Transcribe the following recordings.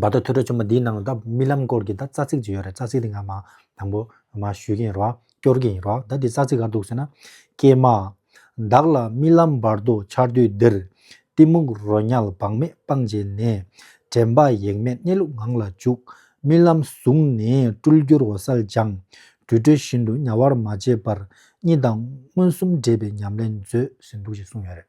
བ་ད་ཐུགས་ཁྲོ་ཆུང་མ་འདིའི་ནང་ལ་ད་རྨི་ལམ་སྐོར་གྱི་ད་རྩ་ཚིག་ཅིག་ཡོད་རེད་རྩ་ཚིག་དེ་ང་མ་དང་པོ་མ་ཞུས་ཀྱི་ཡིན་རོགས་ཨ་སྐྱོར་གྱི་ཡིན་རོགས་ད་དེ་རྩ་ཚིག་ག་འདུག་ཟེར་ན། ཀྱེ་མ། བདག་ལ་རྨི་ལམ་བར་དོ་འཆར་དུས་འདིར། གཏི་མུག་རོ་ཉལ་བག་མེད་སྤང་བྱས་ནས། དྲན་པ་ཡེངས་མེད་གནས་ལུགས་ངང་ལ་འཇུག། རྨི་ལམ་བཟུང་ནས་སྤྲུལ་བསྒྱུར་འོད་གསལ་སྦྱངས། དུད་འགྲོ་བཞིན་དུ་དམྱལ་བར་མ་བྱེད་པར། གཉིད་དང་མངོན་སུམ་འདྲེས་པའི་ཉམས་ལེན་མཛོད་ཟེར་འདུག་ཅེས་གསུངས་ཡོད་རེད།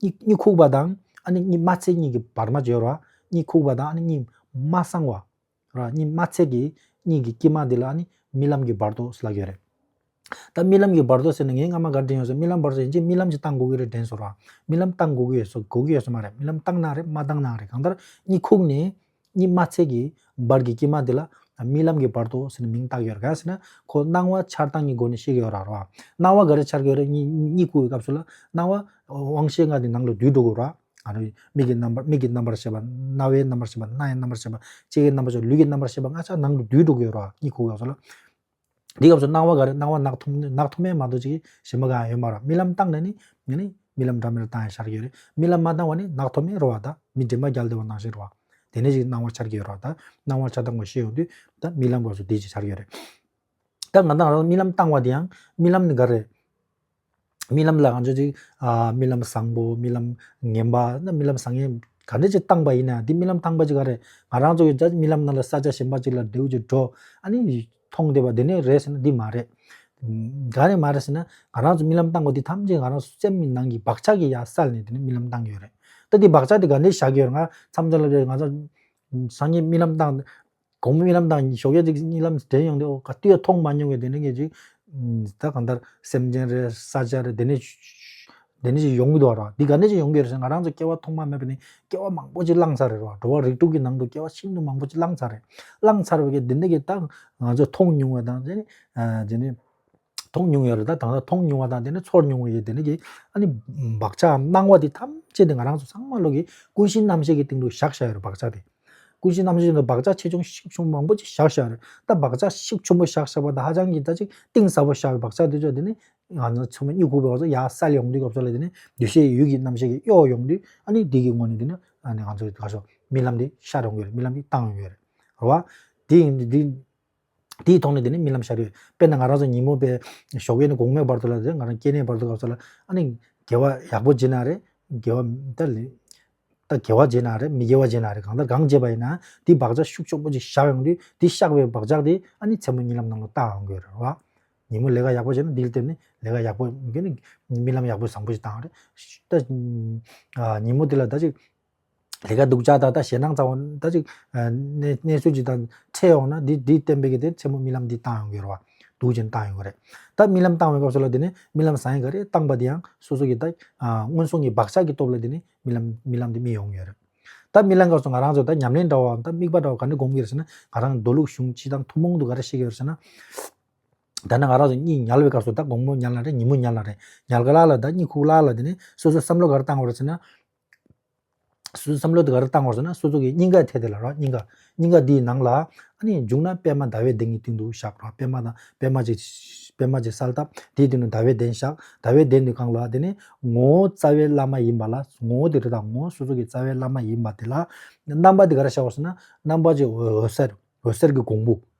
གཉིད་གཉིད་ཁུག་པ་དང་ཨ་ནི་གཉིད་མ་ཚད་གཉིད་ཀྱི་བར་མ་སྦྱོར་བ། གཉིད་ཁུག་པ་དང་ཨ་ནི་གཉིད་མ་སངས་བ། གཉིད་མ་ཚད་ཀྱི་གཉིད་ཀྱི་དཀྱིལ་མ་འདི་ལ་ཨ་ནི་རྨི་ལམ་གྱི་བར་དོ་ལགས་ཀྱི་རེད། ད་རྨི་ལམ་གྱི་བར་དོ་ཟེར་ནས་ངས་སྔ་མ་འགར་དྲན་ཡོང་ཟེར་རྨི་ལམ་བར་དོ་ཡིན་ཅིག་རྨི་ལམ་གྱི་སྟངས་དགོས་ཀྱི་རེད་དྲན་ཟེར་བ། རྨི་ལམ་སྟངས་དགོས་ཀྱི་ཡོད་སོ་དགོས་ཀྱི་ཡོད་སོ་མ་རེད་རྨི་ལམ་སྟངས་ནའང་རེད་མ་སྟངས་ནའང་རེད་གང་ལྟར་གཉིད་ཁུག་ནས། གཉིད་མ་ཚད་ཀྱི་བར་གྱི་དཀྱིལ་མ་དེ་ལ་རྨི་ལམ་གྱི་བར་དོ་ཟེར་ནས་མིང་བཏགས་ཡོད་རེད། ག་ཟེར་ན་ཁོ་སྣང་བ་འཆར་སྟངས་ཀྱི་སྒོ་ནས་ཤེས་ཀྱི་ཡོད་ར་རོ། སྣང་བ་ག་རེ་འཆར་གི་ཡོད་རེད་གཉིད་བསྐུར་བའི་སྐབས་སུ་ལ་སྣང་བ་དབང་ཤེས་ལྔ་དེ་ནང་ལ་དུས་འགྲོ་དགོས་ར་རེད། མིག་གི་རྣམ་པར་མིག་གི་རྣམ་པར་ཤེས་པ། རྣ་བའི་རྣམ་པར་ཤེས་པ་སྣའི་རྣམ་པར་ཤེས་པ། ལྕེའི་རྣམ་པར་ཤེས་པ་ལུས་ཀྱི་རྣམ་པར་ཤེས་པ་ལྔ་ཆ་ནང་དུ་དུས་འགྲོ་གི་ཡོད་ར་རོ་གཉིད་ཁུག་གི་སྐབས་སུ་ལ། འདི་སྐབས་སུ་སྣང་བ་ག་རེ་སྣང་བ་ནག་འཐོམ་ནག་འཐོམ་མའི་མ་དོ་ཅིག་གིས་ཞེན་པ་གང་ཡང་ཡོད་མ་ར་རྨི་ལམ་བཏང་ནས་ནི་ནི་རྨི་ལམ་འདྲ་མེད་ལ་བཏང་ཡང་འཆར་གྱི་ཡོད་རེད་རྨི་ལམ་མ་བཏང་བ་ནི་ནག་འཐོམ་མའི་རོ་བ་དང་མི་འདྲེས་མ་རྒྱལ་བདེ་བ་སྣང་ཞིང་རོ་བ་དེ་ནས་ཅིག་སྣང་བ་འཆར་གྱི་ཡོད་རོ་བ་དང་སྣང་བ་ཆ་ཚང་བ་ཤེས་ཡོང་དུས་ད་རྨི་ལམ་སྐབས་སུ་དེ་ཅིག་འཆར་གྱི་ཡོད་རེད་ད་ང་དང་རང་རང་རྨི་ལམ་བཏང་བ་དེ་ཡང་རྨི་ལམ་ནི་ག་རེ་རྨི་ལམ་ལ་ང་ཚོས་ཅིག་རྨི་ལམ་བཟང་པོ་རྨི་ལམ་ངན་པ་ནི་རྨི་ལམ་བཟང་ངན་ག་འདྲ་ཅིག་བཏང་པ་ཡིན་ན་དེ་རྨི་ལམ་བཏང་པ་ཅིག་ག་རེད་ང་རང་ཚོ་ཡང་རྨི་ལམ་རྣམས་ལ་ས་ཆ་གཞན་པ་ཅིག་ལ་ལྡེའུ་ཅིག་འགྲོ་ཨ་ནི་མཐོང་བསྡད་པ་དེ་ནས་རེད་ཟེར་ན་འདི་མ་རེད། ག་རེད་མ་རེད་ཟེར་ན་ང་རང་ཚོ་རྨི་ལམ་བཏང་བ་དེ་ཐམས་ཅད་ང་རང་ཚོ་སེམས་ནང་གི་བག་ཆགས་ཀྱི་ཡ་སལ་ནས་དེ་ནི་རྨི་ལམ་བཏང་གི་ཡོད་རེད་ད་དེ་བག་ཆགས་དེ་ག་འདྲས་བཞག་གི་ཡོད་རེད་ང་མཚམས་སྦྱར་ལབ་ཡོད་རེད་ང་ཚོ་སང་ཉིན་རྨི་ལམ་བཏང་གོང་སྨོས་རྨི་ལམ་དང་ཞོགས་ཀྱི་རྨི་ལམ་དྲན་ཡོང་དུས་ཨོ་ག་དུས་ཡང་མཐོང་མ་མྱོང་བའི་དེ་འདྲའི་ངེས་ཅིག། ད་གང་ལྟར་སེམས་ཅན་རེད་ས་ཆ་རེད་དེ་འདྲས་དེ་འདྲས་ཅིག་ཡོང་གི་འདུག་ར་འདི་ག་འདྲས་ཅིག་ཡོང་གི་རེད་ཟེར་ང་རང་ཚོ་སྐྱེ་བ་ཐོག་མ་མེད་པ་ནས་སྐྱེ་བ་མང་པོ་ཅིག་བླངས་ཚར་རེད་ར་འགྲོ་བ་རིགས་དྲུག་གི་ནང་དུ་སྐྱེ་བ་ཤིན་ཏུ་མང་པོ་ཅིག་བླངས་ཚར་རེད་བླངས་ཚར་བའི་གེ་དེ་འདྲས་ཀྱི་ད་ང་ཚོས་མཐོང་མྱོང་བ་དང། མཐོང་མྱོང་ཡོད་ལ་ད་དང་ལྟ་མཐོང་མྱོང་བ་དང་དེ་ནས་ཚོར་མྱོང་བ་ཡོད་དེ་ནས་ཀྱི་ཨ་ནི་བག་ཆགས་སྣང་བ་དེ་ཐམས་ཅད་དེ་ང་རང་ཚོ་ཚང་མ་བློ་གི་ཀུན་གཞི་རྣམ་ཤེས་ཀྱི་སྟེང་དུ་བཞག་བཞག་ཡོད་རེད་བག་ཆགས་དེ། ཀུན་གཞི་རྣམ་ཤེས་དེ་བག་ཆགས་ཆེ་ཆུང་ཤིག་ཆུང་མང་པོ་ཅིག་བཞག་བཞག་རེད་ད་བག་ཆགས་ཤིག་ཆུང་པོ་བཞག་བཞག་པ་ད་ཧ་ཅང་གི་ད་ཅིག་གཏིང་ཟབ་པོ་བཞག་བའི་བག་ཆགས་དེ་ཚོ་དེ་ནི་ང་ཚོ་ཚང་མ་སྨྱུ་གུ་བོར་བ་ཚོ་ཡར་སལ་ཡོང་དུས་སྐབས་ཚོ་ལ་དེ་ནི་འདུ་ཤེས་ཡུལ་གྱི་རྣམ་ཤེས་ཀྱི་གཡོ་ཡོང་དུས་ཨ་ནི་དེ་གི་སྔོན་ནས་དེ་ནི་ཨ་ནི་ང་ཚོ་ད་ཞོག་རྨི་ལམ་དེ་ཤར་ཡོང་གི་རེད་རྨི་ལམ་དེ་བཏང་ཡོང་གི་རེད་རེད་བ། དེ་ཡིན་དུས་དེ། དེའི་ཐོག་ནས་དེ་ནས་རྨི་ལམ་ཤར་ཡོད། དཔེར་ན་ང་རང་ཚོ་ཉིན་མོ་པའི་ཞོགས་པའི་ནི་དགོང་མོའི་བར་དུ་ལ་དེ་ང་རང་སྐྱེ་གནས་བར་དུ་ག་ཚོད་ལ་ཨ་ནི་དགེ་བ་ཡག་པོ་བྱེད་ན་རེད་དགེ་བ་ད་ལི་ད་དགེ་བ་བྱེད་ན་རེད་མི་དགེ་བ་བྱེད་ན་རེད་གང་ལྟར་གང་བྱེད་པ་ཡིན་ན་དེའི་བག་ཆགས་ཤུགས་ཆོག་པོ་ཅིག་བཞག་ཡོང་དུས་དེ་བཞག་པའི་བག་ཆགས་དེ་ཨ་ནི་མཚན་མོ་རྨི་ལམ་ནང་ལ་བལྟ་འོང་གི་རེད་བ། ཉིན་མོ་ལས་ཀ་ཡག་པོ་བྱས་ན་དེའི་སྟེང་ནས་ལས་ཀ་ཡག་པོ་རྨི་ལམ་ཡག་པོ་བཟང་པོ་ཞིག་བཏང་རེད། ད་ཉིན་མོ་དེ་ལ་ད་ཅིག་ལས་ཀ་སྡུག་ཅག་ད་ལྟ་ཞེད་སྣང་ཙམ་འོང་ད་ཅིག་གནས་ཚུལ་ཅིག་དང་འཕྲད་འོང་ན་འདི་འདི་བསྟན་པའི་གི་དེ་མཚན་མོ་རྨི་ལམ་འདི་བཏང་ཡོང་གི་རེད་བ། སྡུག་ཅིང་བཏང་ཡོང་གི་རེད། ད་རྨི་ལམ་བཏང་བའི་སྐབས་སུ་ལ་དེ་ནས་རྨི་ལམ་བཟང་ཡིན་ག་རེ་བཏང་པ་དེ་ཡང་སོ་སོ་གི་ད་སྔོན་སོང་གི་བག་ཆགས་ཀྱི་སྟོབས་ལ་དེ་ནས་རྨི་ལམ་རྨི་ལམ་དེ་རྨི་ཡོང་གི་ཡོད་རེད། ད་རྨི་ལམ་སྐབས་སུ་ང་རང་ཚོ་ད་ཉམས་ལེན་འདྲ་བའམ་ད་དམིགས་པ་འདྲ་བ་ག་འདྲ་སྒོམ་གི་རེད་ཟེར་ན་ང་རང་མདོ་ལུགས་གཞུང་སྤྱི་དང་ཐུན་མོང་དུ་ག་རེ་ཤེས་ཀྱི་ཡོད་རེད་ཟེར་ན། ད་ནི་ང་རང་ཚོ་གཉིད་ཉལ་བའི་སྐབས་སུ་ད་དགོང་མོ་ཉལ་ན་རེད་ཉིན་མོ་ཉལ་ན་རེད་ཉལ་ག་ལ་ལ་ད་གཉིད་ཁུག་ལ་ལ་དེ་ནས་སོ་སོའི་བསམ་བློ་ག་རེ་བཏང་བ་རེད་ཟེར་ན། བསམ་བློ་དེ་ག་རེ་བཏང་བར་སོང་ན་སོ་སོ་གི་སྙིང་ག་ཐད་དེ་ལ་རོགས་སྙིང་ག་སྙིང་ག་དེའི་ནང་ལ་ཨ་ནི་འཇུག་ན་པད་མ་ཟླ་བའི་གདན་གྱི་སྟེང་དུ་བཞག་རོགས་པད་མ་དང་པད་མ་ཅིག་པད་མ་ཅིག་གསལ་བཏབ་དེའི་སྟེང་དུ་ཟླ་བའི་གདན་བཞག་ཟླ་བའི་གདན་དེ་གང་ལ་དེ་ནི་ངོ་བོ་རྩ་བའི་བླ་མ་ཡིན་པ་ལ་ངོ་བོ་དེ་རི་དྭགས་ངོ་བོ་སོ་སོ་གི་རྩ་བའི་བླ་མ་ཡིན་པ་དེ་ལ་རྣམ་པ་དེ་ག་རེ་བཞག་བར་སོང་ན་རྣམ་པ་ཅིག་འོད་ཟེར་འོད་ཟེར་གྱི་གོང་བུ་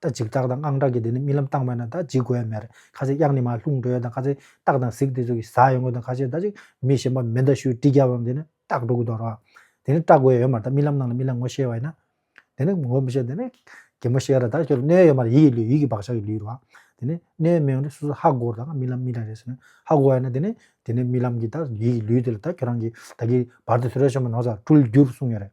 ད་འཇིགས་སྐྲག་དང་དངངས་སྐྲག་གིས་དེ་ནི་རྨི་ལམ་བཏང་བས་ན་ད་འཇིགས་དགོས་མེད་རེད་ཁ་ཟས་གཡག་ནི་མ་ལྷུང་འགྲོ་ཡོད་དང་ཁ་ཟས་སྟག་དང་གཟིག་དེ་ཚོ་གིས་ཟ་ཡོང་གི་དང་ཁ་ཟས་ད་ཅིག་མི་གཞན་པ་མེ་མདའ་ཤུ་གྲི་རྒྱབ་བམ་དེ་ནི་སྟག་འགྲོ་གི་འདོར་བ་དེ་ནི་སྐྲག་དགོས་ཡོད་མ་རེད་ད་རྨི་ལམ་ནང་ལ་རྨི་ལམ་ངོ་ཤེས་བ་ཡིན་ན་དེ་ནི་ངོ་མི་ཤེས་དེ་ནི་གད་མོ་ཤེས་ར་ད་ཁྱོད་ལ་སྣོད་ཡོད་མ་རེད་ཡིད་ཀྱི་ལུས་ཡིད་ཀྱི་བག་ཆགས་ཀྱི་ལུས་རེད་བ་དེ་ནི་སྣོད་མི་ཡོང་དུས་སོ་སོ་ཧ་གོ་དང་རྨི་ལམ་རྨི་ལམ་རེད་ཟེར་ན་ཧ་གོ་བ་ཡིན་ན་དེ་ནི་དེ་ནི་རྨི་ལམ་གྱི་ད་ཡིད་ཀྱི་ལུས་དེ་ལ་ད་ཁྱོད་རང་གིས་ད་གིས་བར་དུ་ཟོལ་ར་ཤོར་མ་གནང་ཟ་འཁྲུལ་འགྱུར་གསུངས་ཡོད་རེད།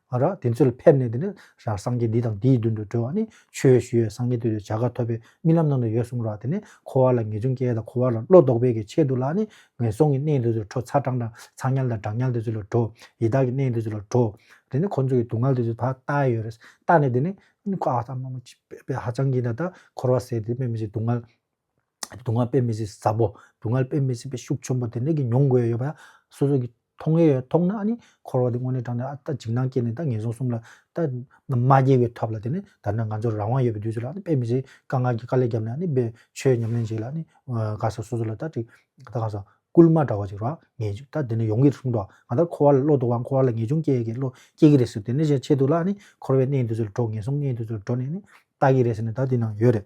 ཨ་ར། དེ་ཚོ་ལ་ཕེབས་ནས་དེ་ནས་ཞར་སངས་རྒྱས་འདི་དང་འདིའི་མདུན་དུ་གྲོལ་བ་ནི་ཆོས་ཞུ་ཡས་སངས་རྒྱས་དུས་དེར་བྱ་དགའ་ཐོབ་པའི་རྨི་ལམ་ནང་དུ་ཡོད་གསུངས་རོགས་དེ་ནས་འཁོར་བ་ལ་ངེས་འབྱུང་སྐྱེ་དང་འཁོར་བ་ལ་བློ་ལྡོག་པའི་གི་ཆེད་དུ་ལ་ནི་ངན་སོང་གི་གནས་འདི་ཚོ་ལ་བྲོ་ཚ་གྲང་དང་ཚ་ཉལ་དང་གྲང་ཉལ་དེ་ཚོ་ལ་བྲོ་ཡི་དྭགས་ཀྱི་གནས་འདི་ཚོ་ལ་བྲོ། དེ་ནས་ཁོ་ཚོ་གི་སྡུག་བསྔལ་དེ་ཚོ་ད་ལྟ་ཡོད་རེད་ལྟ་ནས་དེ་ནས་ཁོ་ཨ་ས་མ་མོ་ཅི་ཧ་ཅང་གི་ད་ལྟ་འཁོར་བ་ཟེར་དེ་དཔེ་མི་སྲིད་སྡུག་བསྔལ། སྡུག་བསྔལ་དཔེ་མི་སྲིད་ཟབ་བོ་སྡུག་བསྔལ་དཔེ་མི་སྲིད་པའི་ཤུགས་ཆེན་པོ་དེ་འདྲ་གི་མྱོང་དགོས་ཡོད་པ་ཡང་སོ་སོ་གི་མཐོང་གི་ཡོད་མཐོང་ན་ཨ་ནི་འཁོར་བ་འདི་དངོས་གནས་དྲང་ནས་ཨ་ད་འཇིགས་སྣང་སྐྱེས་ནས་ད་ངན་སོང་གསུམ་ལ་ད་མ་སྐྱེས་པའི་ཐབས་ལ་དེ་ནི་ད་ནི་ང་ཚོར་རང་དབང་ཡོད་པའི་དུས་ཚོད་ལ་ཨ་ནི་དཔེ་མི་སྲིད་དཀའ་ངལ་གྱི་དཀའ་ལས་བརྒྱབ་ནས་ཨ་ནི་དཔེ་ཆོས་ཉམས་ལེན་བྱེད་ལ་ཨ་ནི་དགའ་ས་སོ་སོ་ལ་ད་ཅིག་ད་གང་ཟག་སྐུལ་མ་འདྲ་བ་ཅིག་རག་ངེས་ཅིག་ད་དེ་ནི་ཡོང་གི་རེད་གསུངས་འགྲོ་ང་ད་འཁོར་བ་ལ་བློ་ལྡོག་པ་འཁོར་བ་ལ་ངེས་འབྱུང་སྐྱེ་གི་བློ་སྐྱེ་གི་རེད་ཟེར་དེ་ནས་བཤད་ཆེད་དུ་ལ་ཨ་ནི་འཁོར་བའི་གནས་འདི་ཚོ་ལ་འགྲོ་ངན་སོང་གནས་འདི་ཚོ་ལ་འགྲོ་ནས་ཨ་ནི་ལྟ་གི་རེད་ཟེར་ནས་ད་དེ་ནང་ཡོད་རེད།